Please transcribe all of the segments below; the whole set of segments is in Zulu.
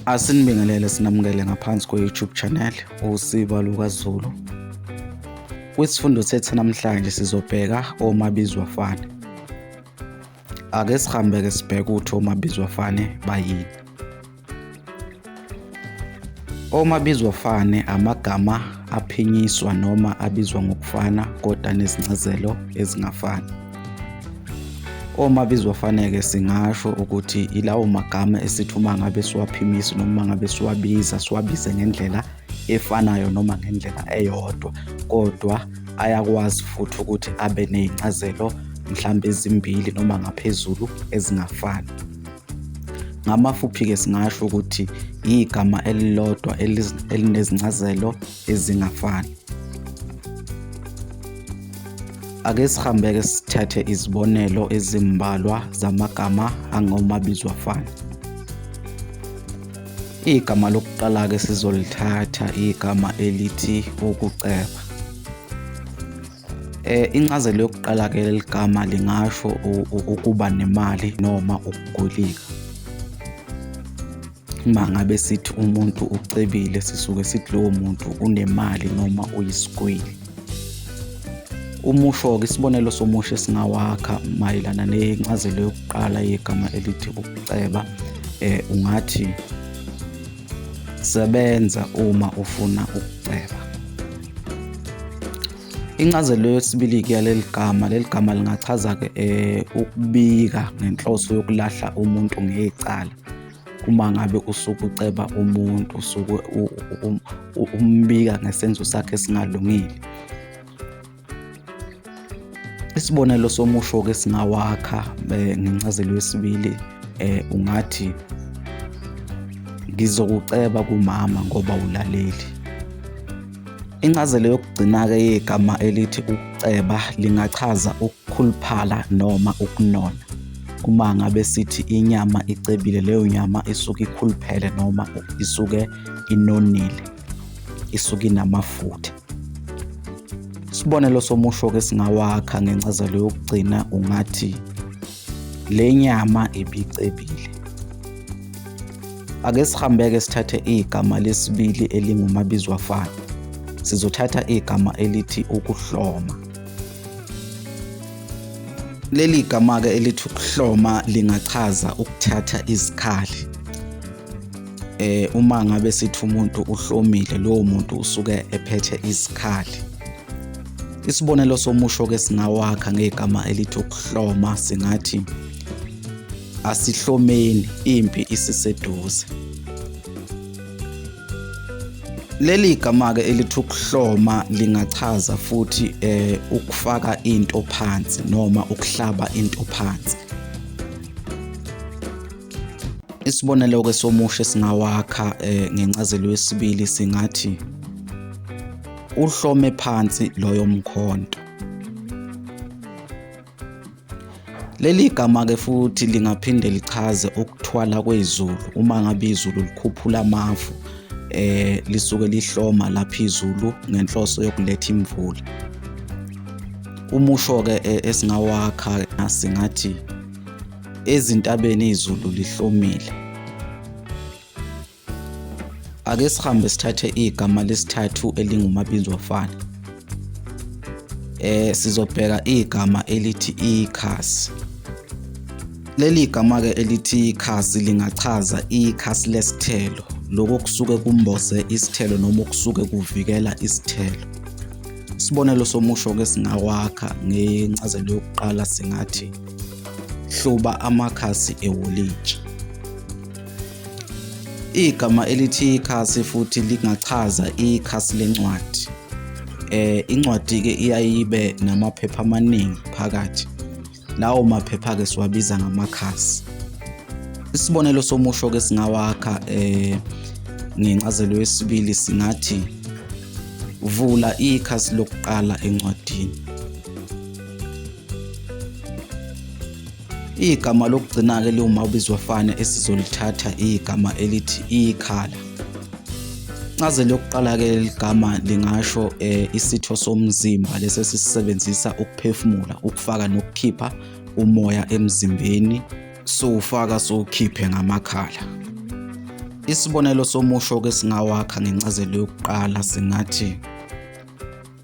Asinibingelele sinamukele ngaphansi kwe-YouTube channel uSiba LukaZulu. Kwisifundo sethu namhlanje sizobheka omabizwa fane. Ake sihambe ke sibheke ukuthi omabizwa fane bayini. Omabizwa fane amagama aphinyiswa noma abizwa ngokufana kodwa nezincazelo ezingafani. Uma bizofaneke singasho ukuthi ilawo magama esithi uma ngabe siwaphimisa noma uma ngabe siwabiza siwabize ngendlela efanayo noma ngendlela eyodwa kodwa ayakwazi futhi ukuthi abe ney'ncazelo mhlawumbe ezimbili noma ngaphezulu ezingafani. Ngamafuphi-ke singasho ukuthi yigama elilodwa elinezincazelo ezingafani. Ake sihambeke sithathe izibonelo ezimbalwa zamagama angomabizo afana. Igama lokuqala-ke sizolithatha igama elithi ukuceba. Eh incazelo yokuqala ke leligama lingasho ukuba nemali noma ukugolika. uma ngabe sithi umuntu ucebile sisuke sithi lowo muntu unemali noma uyisigwili umusho-ke isibonelo somusho esingawakha mayelana nencazelo yokuqala yegama elithi ukuceba eh ungathi sebenza uma ufuna ukuceba incazelo yesibili ke yaleli gama leli gama lingachaza ke eh, ukubika ngenhloso yokulahla umuntu ngecala uma ngabe usuke uceba umuntu usuke umbika ngesenzo sakhe esingalungile isibonelo somusho-ke singawakha eh, ngencazelo yesibili eh, ungathi ngizokuceba kumama ngoba ulaleli Incazelo yokugcina-ke yegama elithi ukuceba lingachaza ukukhuluphala noma ukunona. Uma ngabe sithi inyama icebile, leyo nyama isuke ikhuluphele noma isuke inonile, isuke inamafutha. Isibonelo somusho-ke singawakha ngencazelo yokugcina ungathi Le nyama ibicebile. Ake sihambeke sithathe igama lesibili elingumabizwafana. Sizothatha igama elithi ukuhloma. Leli gama-ke elithi ukuhloma lingachaza ukuthatha izikhali. Eh uma ngabe sithi umuntu uhlomile lowo muntu usuke ephethe izikhali. Isibonelo somusho ke singawakha ngegama elithi ukuhloma singathi asihlomeni impi isiseduze. Leli gama ke elithi ukuhloma lingachaza futhi eh ukufaka into phansi noma ukuhlaba into phansi. Isibonelo ke somusho singawakha eh ngencazelo yesibili singathi uhlome phansi loyo mkhonto. Leli gama ke futhi lingaphinde lichaze ukuthwala kwezulu uma ngabe izulu likhuphula amafu eh lisuke lihloma lapha izulu ngenhloso yokuletha imvula. Umusho ke eh, esingawakha singathi ezintabeni izulu lihlomile. Ake sihambe sithathe igama lesithathu elingumabinzwafana. Eh sizobheka igama elithi ikhasi. Leli igama ke elithi ikhasi lingachaza ikhasi lesithelo lokho kusuke kumboze isithelo noma okusuke kuvikela isithelo. Isibonelo somusho ke singawakha ngencazelo yokuqala singathi hluba amakhasi ewolintshi. Igama elithi ikhasi futhi lingachaza ikhasi lencwadi. Eh incwadi ke iyayibe namaphepha amaningi phakathi. Lawo maphepha ke siwabiza ngamakhasi. Isibonelo somusho ke singawakha eh ngencazelo yesibili singathi vula ikhasi lokuqala encwadini. Igama lokugcina-ke liwuma ubizwa fane esizolithatha igama elithi ikhala. Incazelo yokuqala-ke ligama lingasho um isitho somzimba lesi esisisebenzisa ukuphefumula, ukufaka nokukhipha umoya emzimbeni, siwufaka siwukhiphe ngamakhala. Isibonelo somusho-ke singawakha ngencazelo yokuqala singathi.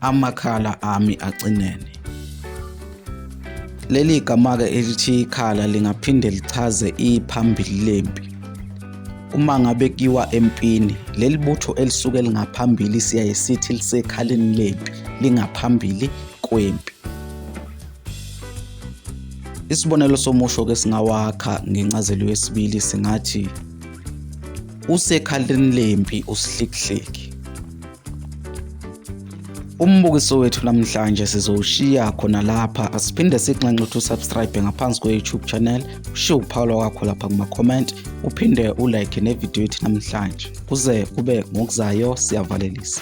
amakhala ami acinene. Leli gama-ke elithi ikhala lingaphinde lichaze iphambili lempi. Uma ngabe kiwa empini, leli butho elisuke lingaphambili siyaye sithi lisekhaleni lempi, lingaphambili kwempi. Isibonelo somusho-ke singawakha ngencazelo yesibili singathi, usekhaleni lempi usihlikihliki. Umbukiso wethu namhlanje sizowushiya khona lapha asiphinde sikunxenxe ukuthi usubscribe ngaphansi kwe-YouTube channel ushiye ukuphawula kwakho lapha kuma-comment uphinde ulike nevidiyo yethu namhlanje kuze kube ngokuzayo siyavalelisa